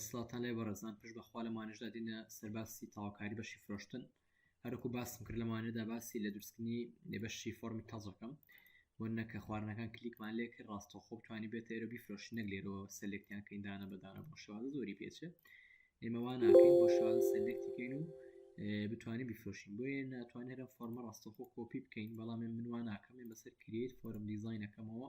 سڵاتان لێ بەڕێزان پشت بەخوا لەمانشدا دینە سەرباسی تاواکاری بەشی فرۆشتن هەرکو باسم کرد لەمانێدا باسی لە درستکردنی نێبەشی فۆرمی تازەکەم بۆ نەکە خواردنەکان کلیکمان لێ کرد ڕاستە خۆ توانی بێت ئێرە بیفرۆش نەک لێرەوە سەلێکتیان کەین دانە بەدانە بۆ شوازە زۆری پێچێ ئێمەوان ناکەین بۆ شوازە سەلێکتیکەین و بتوانین بیفرۆشین بۆیە ناتوان هەرم فۆرمە ڕاستەخۆ کۆپی بکەین بەڵام من منوان ناکەم بەسەر کریت فۆرم دیزینەکەمەوە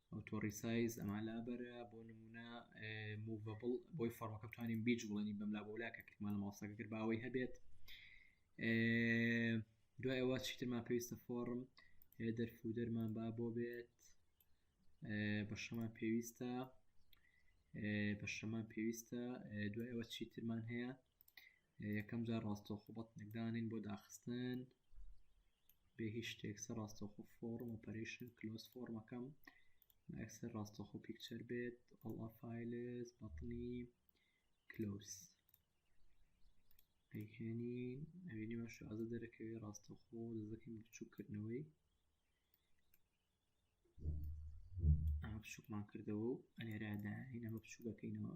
ئۆتۆڕی سایز ئەما لابەرە بۆ نمونە موڤبڵ بۆی فەرمەکە بتوانین بیج بڵێنی بەم لا بۆلا کە کردمان لە ماوسەکە کرد باوەی هەبێت دوای ئەوە چیترمان پێویستە فۆڕم دەرفو دەرمان با بۆ بێت بە شەمان پێویستە بە شەمان پێویستە دوای ئەوە چیترمان هەیە یەکەم جار ڕاستەوخۆ بەتنێکدانین بۆ داخستن بێ هیچ شتێک سەر ڕاستەخۆ فۆرم ئۆپەرشن کلۆس فۆرمەکەم ئەکسەر ڕاستەخۆ پیکچەر بێت ئەڵا فیلس بەتنی کلۆس ئەیهێنی ئەوینی باش ئازە دەرەکەوێ ڕاستەخۆ دەزەکەین بچووکردنەوەی ئەمە بچووکمان کردەوە و ئەلێراداین ئەمە بچووکەکەینەوە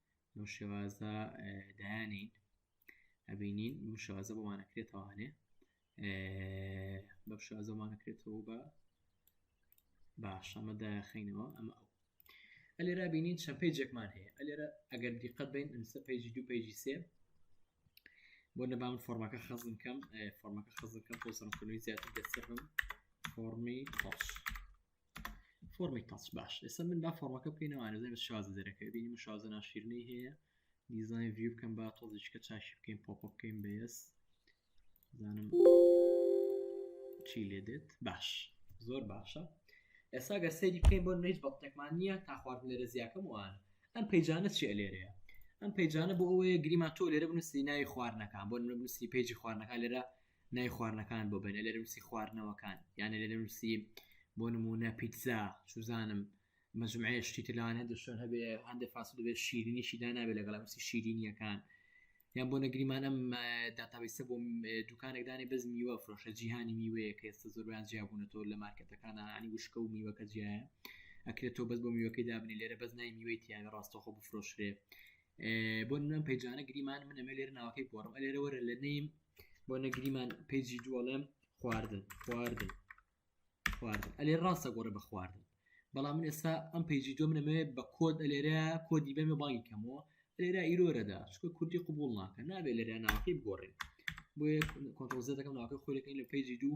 لەو شێوازە دایانین ئەبینین بم شازە بۆمانەکرێتەوانێ بەم شازەمانەکرێتەوە بە باش ئەمە داخینەوە ئەمە ئەو ئەلێرا بینین چەند پێجێکمان هەیە ئەلێرە ئەگەر دیقەت بین ئەمسە پێجی دوو پێجی سێ بۆ نەبام فۆرمەکە خەزم کەم فۆرمەکە خەزم کەم پۆسەرکردنی زیاتر دەستێ بم فۆرمی خۆش فۆرمی تاچ باش ئێستا من با فۆرمەکە بکەینەوە ئارزای بە شازە دەرەکەی بینی مە شازە ناشیرنەی هەیە دیزای ڤیو بکەم با تۆزیشکە چاشی بکەین پۆپ بکەین بەس زانم چی لێ دێت باش زۆر باشە ئێستا گە سەیری بکەین بۆ نەیت بەڵتێکمان نییە تا خواردن لێرە زیاکەم وان ئەم پەیجانە چیە لێرەیە ئەم پەیجانە بۆ ئەوەیە گریمان تۆ لێرە بنووسی ناوی خواردنەکان بۆ نووسی پێیجی خواردنەکان لێرە ناوی خواردنەکان بۆ بێنە لێرە نووسی خواردنەوەکان یانە لێرە نووسی بۆ نمونە پیتزا چوزانم مەجموعەیە شتی تر لەوان هەندێک شوێن هەبێ هەندێک فاست دەبێ شیرینیشی دا نابێت لەگەڵ نووسی شیرینیەکان یان بۆ نەگریمان ئەم داتابیسە بۆ دوکانێکدانی بەس میوە فرۆشە جیهانی میوەیە کە ئێستا زۆربیان جیابوونەوە لە مارکەتەکان عنی وشکە و میوەکە جیایە ئەکرێت تۆ بەس بۆ میوەکەی دابنی لێرە بەس نای میوەی تیاە ڕاستەخۆ بفرۆشرێ بۆ نم پیجانە گریمان من ئەمە لێر ناوەکەی گۆڕم ئەلێرە وەرە لە نیم بۆ نەگریمان پیجی دووەڵێم خواردن خواردن خواردن ئەلێ ڕاستە گۆڕە بە خواردن بەڵام من ئێستا ئەم پیجی دوم نەمەوێ بە کۆد ئەلێرە کۆدی بەمێ بانگی کەمەوە لێرە ئیرۆرەدا چکە کوردی قوبول ناکە نابێت لەرە ناوەکەی بگۆڕێن بۆ کۆنتۆزیەکەم ناوەکە خۆلەکەی لە پیجی دوو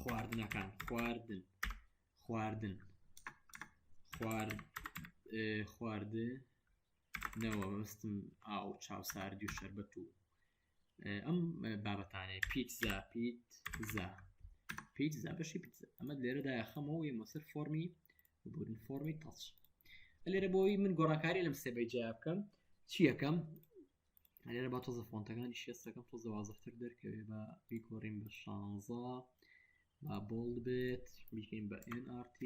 خواردنەکان خواردن خواردن خوار خواردنەوە مەستم ئاو چاوسارد و شربەت و ئەم بابەتانەیە پیتزا پیت زا پیتزا بەشی پیتزا ئەمە لێرەدا خەمەوە یە مەسەر فۆمی بوون فۆمی تەچ لێرە بۆی من گۆڕانکاری لەم سێبەی جیا بکەم چیەکەم لێرە با تۆزە فۆنتەکانی شێستەکەم تۆزە وازەفتر دەرکەوێ بە بیگۆڕین بە شانزە با بۆڵ بێت بیکەین بە NRT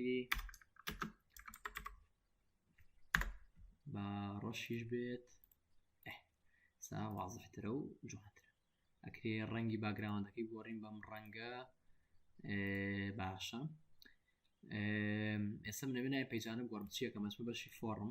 با ڕەشیش بێت سا وازەفترە و جوانترە ئەکرێ ڕەنگی باگراوەندەکەی گۆڕین بەم ڕەنگە باشە ئێستا منەوێنای پەیجانە گۆڕم چیەکە مەچمە بەشی فۆڕم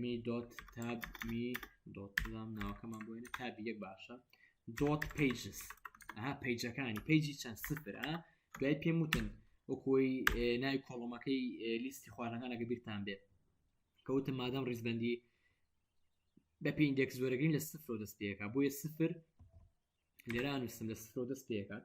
می دۆت تاب می دۆت بزانم ناوەکەمان بۆ وێنە تابی یەک باشە دۆت پیجس ئەها پیجەکانی پیجی چەند سفر ئا دوای پێم وتن وەکۆی ناوی کۆڵۆمەکەی لیستی خوارەکانەکە بیرتان بێت کەوتم مادەم ڕیزبندی بە پێ ئیندێکس زۆرەگرین لە سفر و دەست پێەکە بۆیە سفر لێران وستم لە سفر و دەست پێکات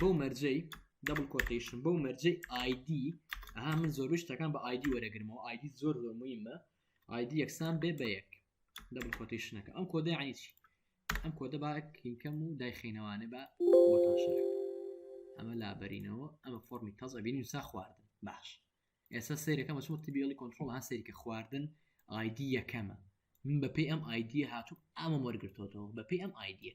بەو مەرجەی دەبل کۆتیشن بەو مەرجەی ئایدی ئەها من زۆربەی شتەکان بە ئایدی وەرەگرمەوە ئایدی زۆر زۆر مهمە ئایدی یەکسان بێ بە یەک دەبل کۆتیشنەکە ئەم کۆدە یعنی چی ئەم کۆدە با کلینکەم و دایخینەوانە بە بۆتان شەرک ئەمە لابەرینەوە ئەمە فۆمی تەز ئەبین و سا خواردن باش ئێستا سەیرەکەم چۆن تبیڵی کۆنتترۆل ها سەیرکە خواردن ئایدی یەکەمە من بەپی ئەم ئایدیە هاتوو ئەمە وەرگرتۆتەوە بەپی ئەم ئایدیە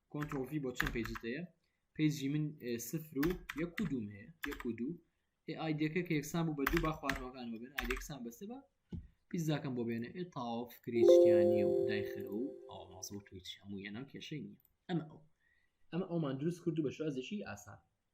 کۆنترۆڵ ڤی بۆ چەند پێجت هەیە پێجی من سفر و یەک و دوم هەیە یەک و دوو ئێ ئایدەکە کە یەکسان بوو بە دوو با خواردنەوەکان ببن ئایدەکسان بەسە بە پیزاکەم بۆ بێنە ئێ تاوە فکری شتیانە و دایخەرە و ئاو مازە و تویچ هەموو یەنە کێشەی نییە ئەمە ئەو ئەمە ئەومان دروست کرد و بە شازێکی ئاسان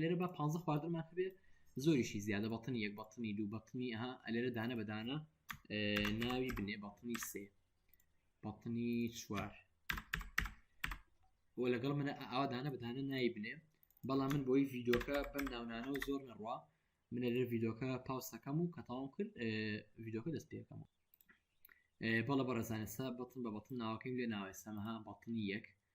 لێرە بە پ خواردنمان هەبێ زۆریشی زیادە بەتنی یەک بەتنی دوو بەتنی ها ئەلێرە دانە بەدانە ناوی بنێ بەتنی سێ بەتنی چوار و لەگەڵ منە ئاوا دانە بەدانە ناوی بنێ بەڵام من بۆی ڤیدۆکە بەم ناونانە و زۆر نەڕوا منە لێ ڤیدۆکە پاوسەکەم و کە تاوام کرد ڤیدۆکە دەست پێکەم بەڵە بەڕێزانسا بەتن بە بەتن ناوەکەی لێ ناوێسەمەها بەتنی یەک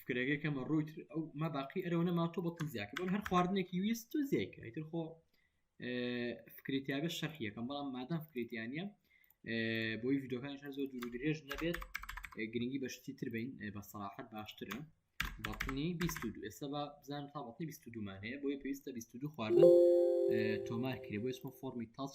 فکرەکەی کەمە ڕووی ئەو ما باقی ئەرەوە نەما تۆ بە تزیاکە بۆن هەر خواردنێکی ویست تو زیکە ئیتر خۆ فکرێتیابێت شەرحیەکەم بەڵام مادام فکرێتیانە بۆی یددیوەکان هەر زۆر دوور درێژ نەبێت گرنگی بەشتی تر بین بە سەراحەت باشترە بەڵنی 22 ئێستا بە بزان تا بەڵنی 22 مانەیە بۆی پێویستە 22 خواردن تۆمار کرێ بۆ ئسمە فۆمی تاچ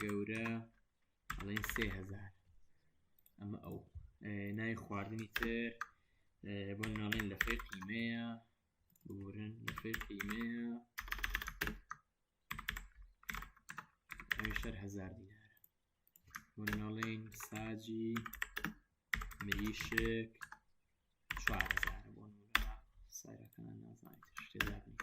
گەورە ئەڵێن سێ هزار ئەمە ئەو ناوی خواردنی تر بۆ ناڵێن لە فێر قیمەیە بورن لە فێر قیمەیە شەر هزار دینارە بۆ ناڵێن ساجی مریشک چوار هزار بۆ سارەکان نازانیت شتێ دابنیت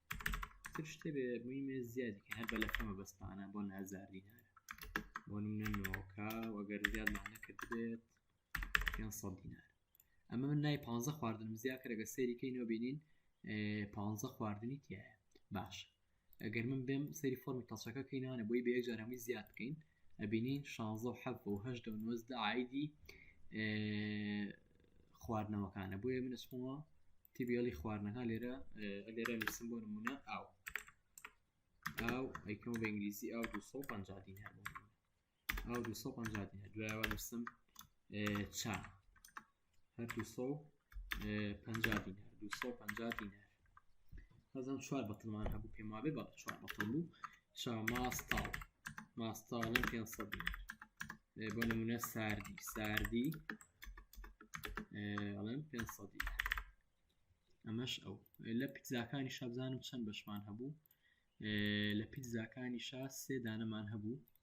تر شتێ بێ موی مێ زیادی هەر بە لەکەمە بەستانە بۆ نازار دینارە بۆ نمونە نۆکە وەگەر زیادمان نەکردبێت پێنج سەد دینار ئەمە من نای پانزە خواردنم زیاد کەرەگە سەریکەی نۆبینین پانزە خواردنی تایە باش ئەگەر من بێم سەری فۆرمی تەڵچەکە کەینانە بۆی بە یەک جارەمەی زیاد بکەین ئەبینین شانزە و حەفە و هەشدە و نۆزدە ئایدی خواردنەوەکانە بۆیە من ئەسمەوە تیبیڵی خواردنەکە لێرە لێرە لەسم بۆ نمونە ئاو ئاو ئەیکەم بە ئینگلیزی ئاو 250 دین هەبوو ئاو 250 دین دوایەوە نووسم چا هەر دوو سەد و پەنجا دینار دوو سەد و پەنجا دینار هەزم چوار بەتڵمان هەبوو پێم وابێ بەڵە چوار بەتڵ بوو چا ماستاڵ ماستاڵی پێ سەد دینار بۆ نمونە ساردی ساردی ئەڵێن پێ سەد دینار ئەمەش ئەو لە پیتزاکانی شابزانم چەند بەشمان هەبوو لە پیتزاکانی شا سێ دانەمان هەبوو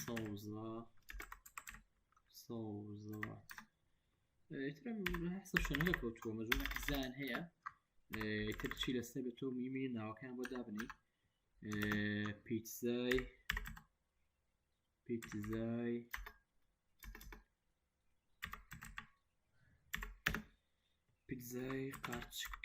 سەوزە سەوزەوات حسە شەنگە کەوتووە مەزون حزان هەیە تر چی لەسەر بە تۆ میمی ناوەکان بۆ دابنی پیتزای پیتزای پیتزای قارچک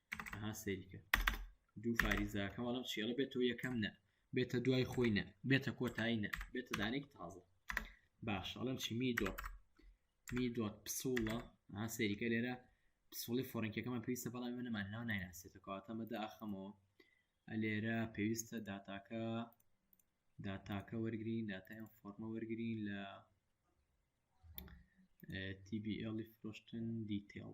ئەها سەیرکە دوو فاریزاکە وەڵم چێڵە بێت تۆ یەکەم نە بێتە دوای خۆی نە بێتە کۆتایی نە بێتە دانێک تازە باش ئەڵم چی می دۆت می دۆت پسوڵە ئەها سەیرکە لێرە پسوڵی فۆرنکەکەمان پێویستە بەڵام من نەمان ناو نایناسێتە کاتەمەدا ئەخەمەوە لێرە پێویستە داتاکە داتاکە وەرگین داتایان فۆرمە وەرگین لە TBL فرۆشتن دیتێڵ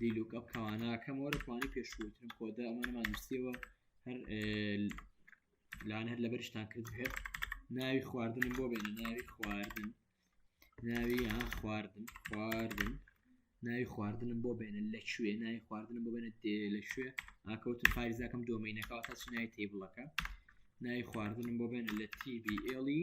دیلوکەپ کەواناکەم وەرە کوانی پێشوترم کۆدە ئەمانەمان نووسیەوە هەر لاان هەر لەبەرشتان کرد هێت ناوی خواردن بۆ بێنە ناوی خواردن ناوی یان خواردن خواردن ناوی خواردنم بۆ بێنە لە کوێ ناوی خواردنم بۆ بێنە دێ لە کوێ ئاکەوت پارێزاکەم دۆمینەکە تاچ ناوی تیبڵەکە ناوی خواردنم بۆ بێنە لە تیبی ئێڵی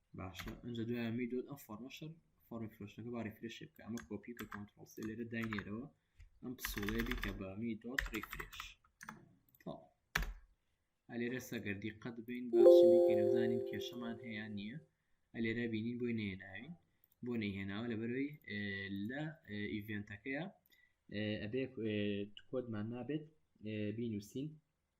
باشە ئەنجا دوای ئەمەی دۆت ئەم فۆرمە شەر فۆرمی فرۆشتەکە با ریفرێشێ بکە ئەمە کۆپی کە کۆنترۆڵ سێ لێرە داینێرەوە ئەم پسوڵێ بیکە بە می دۆت ریفرێش تەواو ئەلێرە سەگەر دیقەت بین با بچین بیکەینە بزانین کێشەمان هەیە نییە ئەلێرە بینین بۆی نێناوین بۆ نەیهێناوە لەبەرەوەی لە ئیڤێنتەکەیە ئەبێ کۆدمان نابێت بینوسین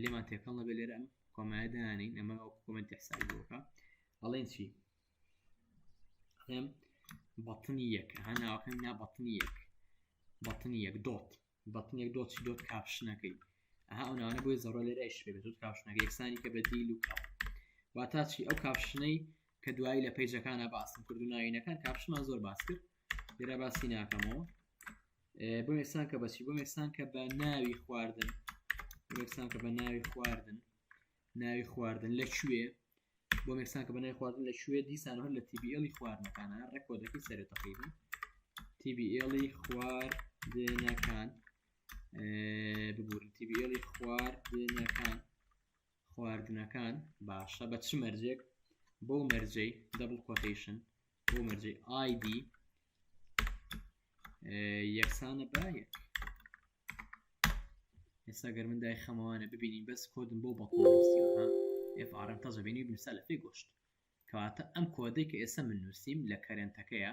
لێمان تێکەڵ نەبێت لێرە ئەم کۆمایە دانین ئەمە ئەو کۆمنتی حسابی بۆکە ئەڵێن چی ئەڵێم بەتنی یەک ها ناوەکەم نا بەتنی یەک بەتنی یەک دۆت بەتن یەک دۆچی دۆت کاپشنەکەی ئەها ئەو ناوانە بۆی زەڕۆ لێرەش بێت دۆت کاپشنەکە یەکسانی کە بەدیل و کاپ واتا چی ئەو کاپشنەی کە دوایی لە پەیجەکانە باسم کرد و ناوینەکان کاپشمان زۆر باس کرد لێرا باسی ناکەمەوە بۆ یەکسان کە بەچی بۆ یەکسان کە بە ناوی خواردن یەکسان کە بە ناوی خواردن ناوی خواردن لە کوێ بۆ یەکسان کە بە ناوی خواردن لە کوێ دیسان هەر لە تیبیێڵی خواردنەکانە ڕێکۆدەکەی سەرێت تقریبا تیبیێڵی خواردنەکان ببوورن تیبیێڵی خواردنەکان خواردنەکان باشە بە چ مەرجێک بەو مەرجەی دەبڵ کۆتیشن بۆ مەرجی ID یەکسانە بە یەک ئێستا گەر من دای خەمەوانە ببینین بەس کۆدم بۆ بەڵکو نووسیوە ها ئێفعاەن تەزە بینی بنووسە لە پێی گۆشت کەواتە ئەم کۆدەی کە ئێستا من نووسیم لە کەرێنتەکەیە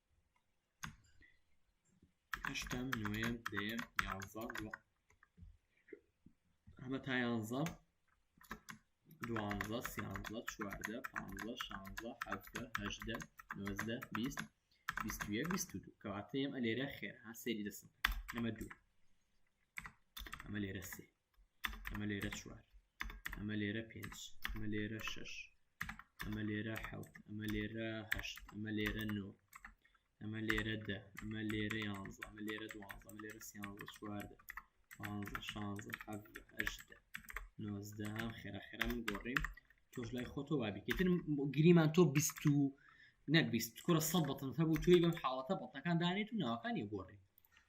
هەشتم نوێم دەیەم یانزە ئەمە تا یانزە دوانزە سیانزە چواردە پانزە شانزە حەفتە هەژدە نۆزدە بیست بیست یەک بیست و دوو کەواتەیەم ئەلێرە خێر ها سێری دەسم ئەمە دوو ئەمە لێرە سێ ئەمە لێرە چوار ئەمە لێرە پێنج ئەمە لێرە شش ئەمە لێرە حەوت ئەمە لێرە هەشت ئەمە لێرە نۆ ئەمە لێرە دە ئەمە لێرە یانزە ئەمە لێرە دوانزە ئەمە لێرە سیانزە چواردە پانزە شانزە حەڤدە هەژدە نۆزدە خێرا خێرا من گۆڕیم تۆش لای خۆتۆ وابیکەتر گریمان تۆ بیست و نەبیست کوڕە سە بەتن هەبوو توی بەم حاڵەتە بەتەکان دانێت و ناوەکانی گۆڕی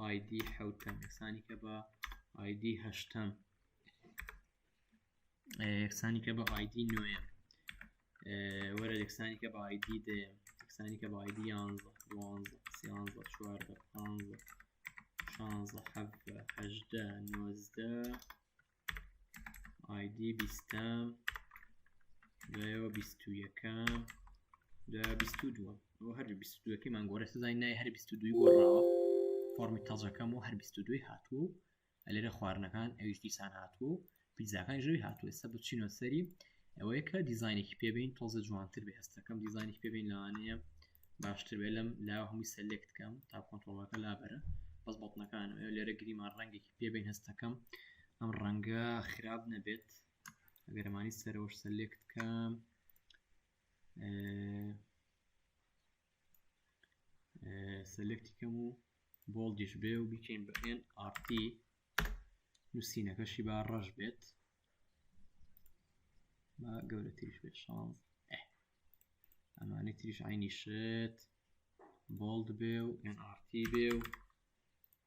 ئایدی حوتەم یەکسانیکە بە ئایدی هەشتەم یەکسانیکە بە ئایدی نوێم وەرە یەکسانیکە بە ئایدی دەیەم یەکسانیکە بە ئایدی یانزە دوانزە سیانزە چواردە پانزە شانزە حەفە هەژدە نۆزدە ئایدی بیستەم دوایەوە بیست و یەکەم دا بیست و دووە ئەو هەر بیست و دووەکەی مانگۆرە سزای نای هەر بیست و دووی گۆڕاوە فۆرمی تەزەکەم و هەر بیست و دووی هاتوو و ئەلێرە خواردنەکان ئەویش دیسان هاتوو و پیزاکان ژەوی هاتوو ئێستا بچینەوە سەری ئەوەیە کە دیزانێکی پێبین تۆزە جوانتر بێ هەستەکەم دیزانێکی پێبین لەوانەیە باشتر بێ لەم لا هەمووی سەلێکتکەم تا کۆنتۆڵەکە لابەرە بەس بەڵنەکان لێرە گریمان ڕەنگێکی پێبین هەستەکەم ئەم ڕەنگە خراپ نەبێت ئەگەرمانی سەرەوەش سەلێکت کەم سەلێکتی کەم و بۆڵدیش بێ و بیکەین بەێن ئارتی نووسینەکەشی با ڕەش بێت با گەورەتریش بێت شانز ئەمانی تریش عینی شێت بۆڵد بێ و ئەن ئارتی بێ و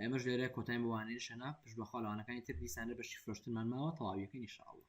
ئێمەش لێرە کۆتایم بۆ وانەی شەناف پشت بەخوا لە وانەکانی تر دیسانە بەشی فرۆشتنمان ماوە تەواویەکەین ان شاء اللە.